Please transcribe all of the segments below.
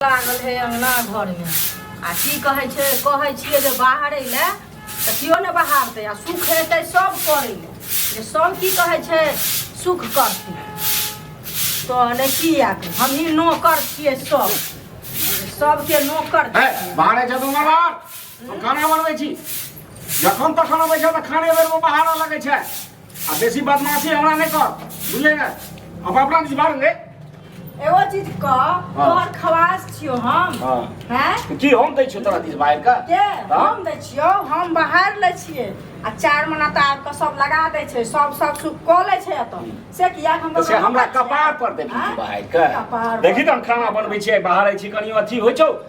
लागल हे अङ्गना घरमे आ की कहै छै कहै छियै जे बाहरै लए तऽ केओ नहि बहारतै आ सुख हेतै सभ करै लए जे सभ की कहै छै सुख करतै तऽ नहि की आके हमही नौकर छियै सभ सभके नौकर हे छियै। बाहरे छै दुमर बाहर हम खाना बनबै छी जखन तखन अबै छै तऽ खाने बेरमे बाहर लगै छै आ बेसी बदमाशी हमरा नहीं कर बुझले ना अब अपना नहीं बाहर ले एगो चीज क तोहर खवास छियो हम हाँ। हैं की हम दै छियो तोरा दिस बाहर का के हाँ। हम दै छियो हम बाहर लै छियै आ चार महीना तऽ आबि कऽ सब लगा दै छै सब सब सुख कऽ लै छै एतऽ से किया हम तो से हमरा कपार पर देखी हाँ? बाहर का कपार पर। देखी त हम खाना बनबै छियै बाहर आइ छी कनी अथी होइ छौ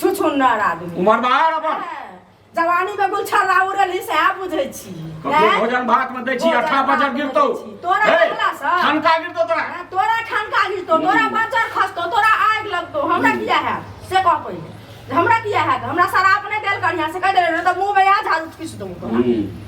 छुछुन्नर आदमी उमर बाहर अपन जवानी में गुलछा राउ रहली से आ बुझै छी ककरो भोजन भात में दै छी भोजन अठा भात बजर में गिरतौ दै छी। तोरा हे, देखला सँ? ठनका गिरतौ तोरा हैं, तोरा ठनका गिरतो तोरा बजर खसतो तोरा आग लगतो हमरा किया है से कह पहिले हमरा किया है हमरा शराब नहीं देल करिया से कह दे तो मुंह में आ झाड़ू किस दूं तोरा हम्म।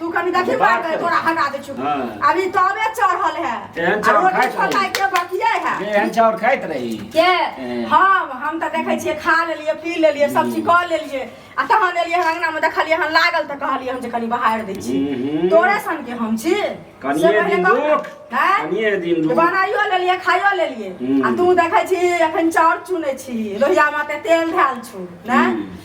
तू कनी देखी बात मार है, तोरा हटा दे छु हाँ। अभी तबे चढ़ल है एहन आ चाउर रोटी खाइत छोटा रही। के बकिए है जे एहन चाउर खाइत रही के हम्म। हम हम तऽ देखै छियै खा लेलियै पी लेलियै सब चीज कऽ लेलियै आ तहन एलियै हन अंगना मे देखलियै हन लागल तऽ कहलियै हम जे कनी बहारि दै छी हम्म। तोरे सन के हम छी से कनिए पहिले दिन कहू ने। रुक हैं? कनिए दिन तऽ रुक बनाइयो लेलियै खाइयो लेलियै हम्म। आ तू देखै छी एखन चाउर चुनै छी लोहिया मे ते तेल धैल छु ने हम्म।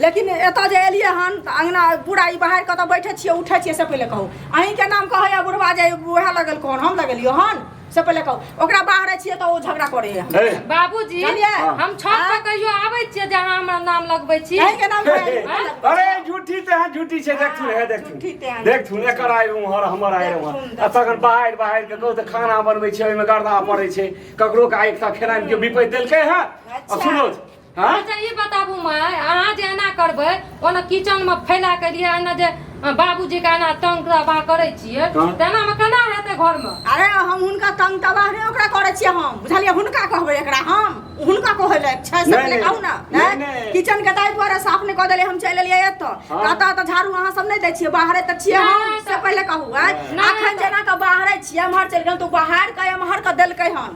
लेकिन एतऽ जे एलियै हन तऽ अङ्गना पूरा ई बाहर कतऽ बैठे छियै उठै छियै से पहिले कहू अहींके नाम कहैया बुढ़वा जे उएह लगेलको हन हम लगेलियो हन से पहिले कहू ओकरा बाहरे छियै तऽ ओ झगड़ा करे हन हे, बाबूजी जानलियै? हम छत पर हाँ। कहियो आबै छियै जे अहाँ हमरा नाम लगबै छी अहींके नाम हे, हे, कहैया। अरे झूठी ते हैं झूठी छै देख तू हे देख तू झूठी ते हैं। देख तू एकर आइ उम्हर हमर आइ उम्हर देख तू, आ तखन बाहर बाहर के कहू तऽ खाना बनबै छै ओहिमे गर्दा पड़ै छै ककरो के आइ तक खेनाइ के बिपैत देलकै है आ अच्छा। सुनो हाँ? अच्छा ई बताबू माय अहाँ जे एना करबै ओना किचन में फैला के लिए एना जे अ, बाबूजी के एना तंग तबाह करै छियै हाँ। तेना में केना हेतै घर में अरे हम हुनका तंग तबाह नहि ओकरा करै छियै हम बुझलियै हुनका कहबै एकरा हम हुनका कहै लए छै से नहि, अपने नहि। कहू ने नहि, हैं? नहि। किचन के ताहि दुआरे साफ नहि कऽ देलियै हम चलि एलियै एतऽ हाँ। कहता तऽ झाड़ू अहाँ सब नहि दै छियै बाहरे तऽ छियै हम नहि, से तऽ- पहिले कहू हैं? नहि, अखन तऽ- जेना कऽ बाहरे छियै एम्हर चलि गेल तऽ ओ बाहर के एम्हर के देलकै हन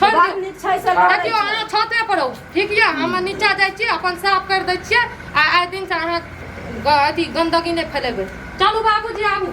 छोड़ि बात दियौ। नीक छै से लड़ै देखियौ छै। अहाँ छते पर रहू ठीक यऽ हम नीचा जाइ छियै अपन साफ करि दै छियै आ आइ दिनसँ अहाँ ग- अथी गन्दगी नहि फैलेबै चलू बाबूजी आबू